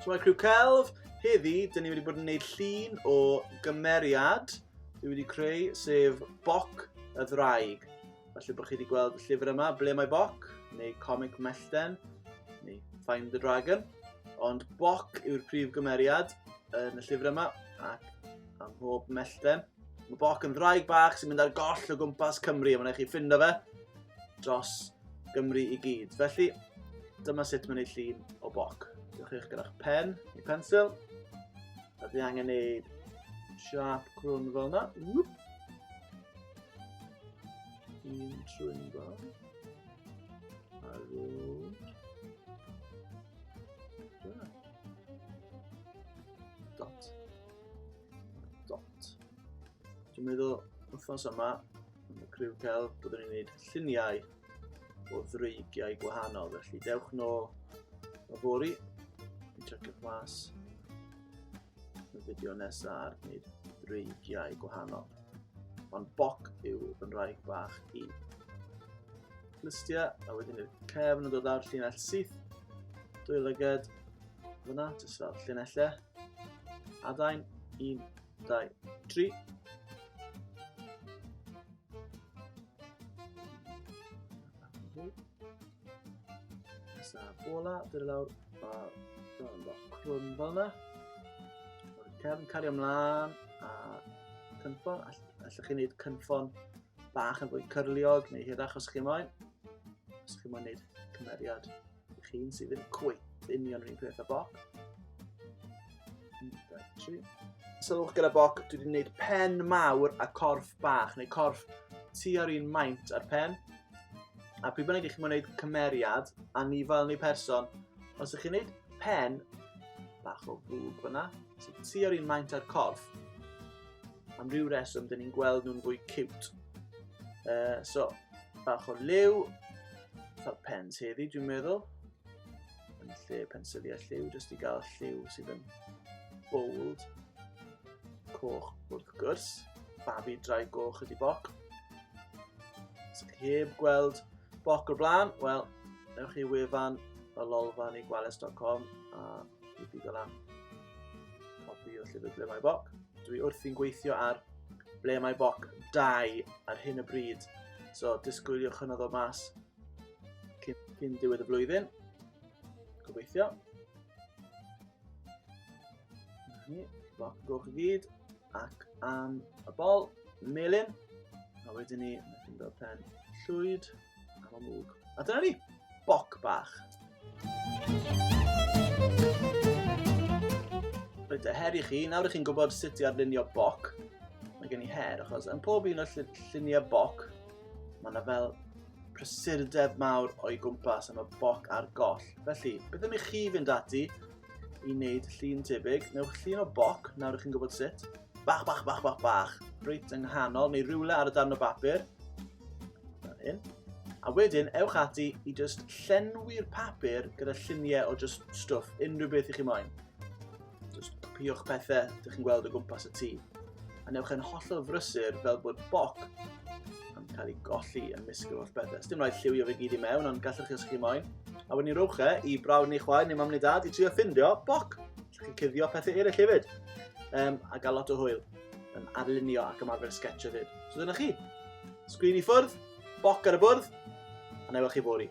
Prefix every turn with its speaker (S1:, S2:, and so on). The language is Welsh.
S1: Shwmae Criw Celf, heddi, dyn ni wedi bod yn gwneud llun o gymeriad dwi wedi creu, sef Boc y Ddraig. Felly bod chi wedi gweld y llyfr yma, Ble mae Boc, neu Comic Mellten, neu Find the Dragon. Ond Boc yw'r prif gymeriad yn y llyfr yma, ac am hob mellten. Mae Boc yn ddraig bach sy'n mynd ar goll o gwmpas Cymru a mae'n eich chi ffindo fe dros Gymru i gyd. Felly, dyma sut mae'n ei llun o Boc. Diolch eich gyda'ch pen i pensil. A di angen neud siap crwn fel yna. Whoop. Un trwy'n fel. A rwy'n... Dot. dot. Dwi'n meddwl wythnos yma, yn y criw cael, byddwn ni'n gwneud lluniau o ddreigiau gwahanol. Felly dewch nôl o fori, yn checio'ch mas y fideo nesaf ar gwneud dreigiau gwahanol. Ond boc yw fy nraig bach i. Lystia, a wedyn i'r cefn yn dod lawr llinell syth, dwy lyged, fyna, jyst fel llinellau. Adain, 1, 2, 3. Nesaf ola, dyr y lawr, a dyna'n bach crwn fel yna. O'r cefn cario ymlaen, a cynffon, allwch chi'n gwneud cynffon bach yn fwy cyrliog neu hirach os chi moyn. Os chi moyn gwneud cymeriad Ych un sydd yn cwyt union rhywun peth a boc. Sylwch gyda boc, dwi wedi gwneud pen mawr a corff bach, neu corff tu ar un maint ar pen. A pryd bynnag i chi'n gwneud cymeriad, anifail neu person, os ych chi'n gwneud pen bach o fwg fyna, sy'n tu ar un maint ar corff, am ryw reswm, dyn ni'n gweld nhw'n fwy cute. Uh, so, bach o liw, fel pens hefyd dwi'n meddwl yn lle pensyliau lliw jyst i gael lliw sydd yn bold coch wrth gwrs babi drai goch ydi boc sy'n heb gweld boc o'r blaen wel ewch i wefan y lolfa neu gwales.com a i byd o lan copi o llyfr ble mae boc dwi wrthi'n gweithio ar ble mae boc 2 ar hyn y bryd. So, disgwyliwch hynny ddod mas cyn, cyn diwedd y flwyddyn. Gobeithio. Ni, boc goch i gyd, ac am y bol, melin. A wedyn ni, mae chi'n dod pen llwyd. Ar ôl mwg. A dyna ni. Boc bach. Rhaid y her i chi, nawr ych chi'n gwybod sut i arlunio boc. Mae gen i her, achos yn pob un o'r lluniau boc, mae yna fel prysurdeb mawr o'i gwmpas am y boc a'r goll. Felly, beth am i chi fynd ati i wneud llun tebyg. Newch llun o boc, nawr ych chi'n gwybod sut. Bach, bach, bach, bach, bach. Rwyt yng nghanol, neu rhywle ar y darn o bapur. Fel hyn. A wedyn, ewch ati i just llenwi'r papur gyda lluniau o just stwff, unrhyw beth i chi moyn. Just copiwch pethau, dych chi'n gweld o gwmpas y tŷ. A newch yn hollol frysur fel bod boc yn cael ei golli yn misg o'r bethau. Dim rhaid lliwio fe gyd i mewn, ond gallwch chi os chi moyn. A wedyn ni rowch e i brawd neu chwaer neu mam neu dad i trio ffindio boc. Lle chi'n cuddio pethau eraill hefyd. Um, a gael lot o hwyl yn arlunio ac ymarfer sketch o fyd. So dyna chi. Sgrin i ffwrdd, boc ar y bwrdd, a na i weld chi fori.